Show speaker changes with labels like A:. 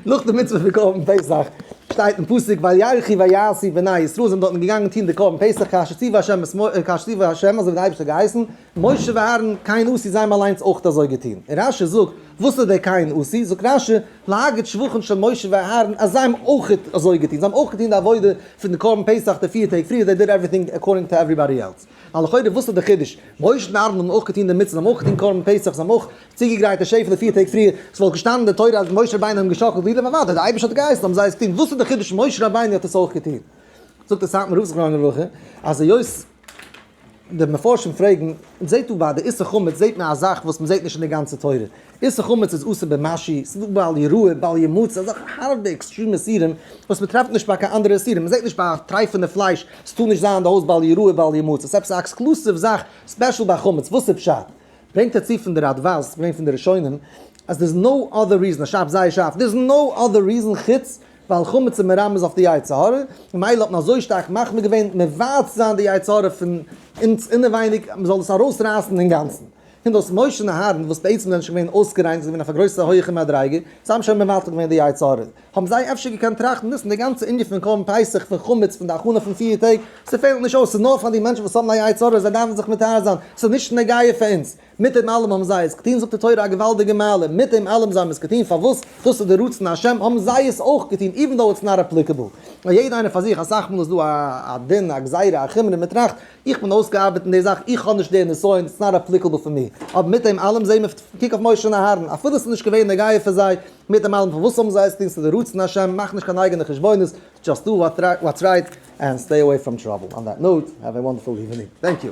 A: נאך די מצוה פון קרבן פסח, שטייט אין פסוק וירחי ויעשי בני ישראל זענען דארטן געגאנגען טון די קרבן פסח כאשר ציווה השם את משה, כאשר ציווה השם אזוי ווי דער אייבערשטער האט געהייסן, משה ואהרן כהן עשי זיי האבן אליינס אויך אזוי געטון, און רש י זאגט, וואס איז דער כהן עשי? זאגט רש י, להגיד שבחן של משה ואהרן אז זיי האבן אויך אזוי געטון, זיי האבן אויך געטון די עבודה פון די קרבן פסח די פיר טעג פריער, זיי דיד עווריטינג עקארדינג טו עווריבאדי עלס, ווייל לכאורה וואס איז דער חידוש? משה און אהרן האבן אויך געטון די מצוה, זיי האבן אויך געטון קרבן פסח, זיי האבן אויך צוגעגרייטע שעפע די פיר טעג פריער, עס וואלט געשטאנען אין די תורה אז משה רבינו האט אים געשאקלט ווידער פארוואנט אז דער אייבערשטער האט געהייסן האבן זיי עס געטון, וואס איז די חידוש משה רבינו האט עס אויך געטון? זאגט דער סאטמאר רב זכרונו לברכה אז היות די מפרשים פרעגן, זעט דא ביי די איסור חמץ זעט מען א זאך וואס מען זעט נישט אין די גאנצע תורה, איסור חמץ איז אסור במשי, ס'איז דא בל יראה בל ימוץ אזעלכע הארבע עקסטרים איסורים וואס מען טרעפט נישט ביי קיין אנדערע איסורים, מען זעט נישט ביי טרייפענע פלייש, עס טאר נישט זיין אין די הויז בל יראה בל ימוץ, עס איז עפעס א עקסקלוסיוו זאך ספעשל ביי חמץ, וואס איז פשט? ברענגט ער צו פון די ראדווי'ס, ס'איז געווען פון די ראשונים, אז דער איז נאו אדער ריזען, ער שרייבט זייער שארף, דער איז נאו אדער ריזען חוץ ווייל חמץ איז מרמז אויף די יצר הרע, און מילא האט מען אזוי שטארק מחמיר געווען מבער צו זיין די יצר הרע פון אונז אינעווייניג אז מ'זאל עס ארויסרייסן אינגאנצן. הן דאס מוישען אהרן וואס בעצם זענען שוין געווען אויסגעריינט, זיי זענען געווען אויף א גרויסע הויעכע מדריגה, זיי האבן שוין מבטל געווען די יצר הרע, האבן זיי אפשר געקענט טראכטן דאס אין די גאנצע ענין פון קרבן פסח פון חמץ פון די הכנה פון פֿיר טעג, ס'פעלט נישט אויס, ס'איז נאר פאר די מענטשן וואס האבן א יצה ר, זיי דארפן זיך מטהר זיין, ס'איז נישט נוגע פאר אונז. מיט דעם אלעם האבן זיי עס געטון, זאגט די תורה א געוואלדיגע מעלה, מיט דעם אלעם זיי האבן עס געטון פארוואס דאס איז די רצון השם האבן זיי עס אויך געטון איווען דאו איטס נאט עפליקעבל, און יעדע איינער פאר זיך, אסאך מאל איז דא א דין, א גזירה, א חומרא, מ'טראכט איך בין אויסגעארבעט אין די זאך, איך האב נישט די נסיון, איטס נאט עפליקעבל פאר מיר. אבער מיט דעם אלעם זעהן מיר, קוק אויף משה און אהרן, אפילו ס'איז נישט געווען נוגע פאר זיי, מיט דעם אלעם פארוואס האבן זיי עס געטון, ס'איז די רצון השם, מאך נישט קיין אייגענע חשבונות, דזשאסט דו וואטס רייט, ענד סטעי אוועי פראם טראבל. אן דעט נאוט, העוו א וואנדערפול איווענינג. טענק יו.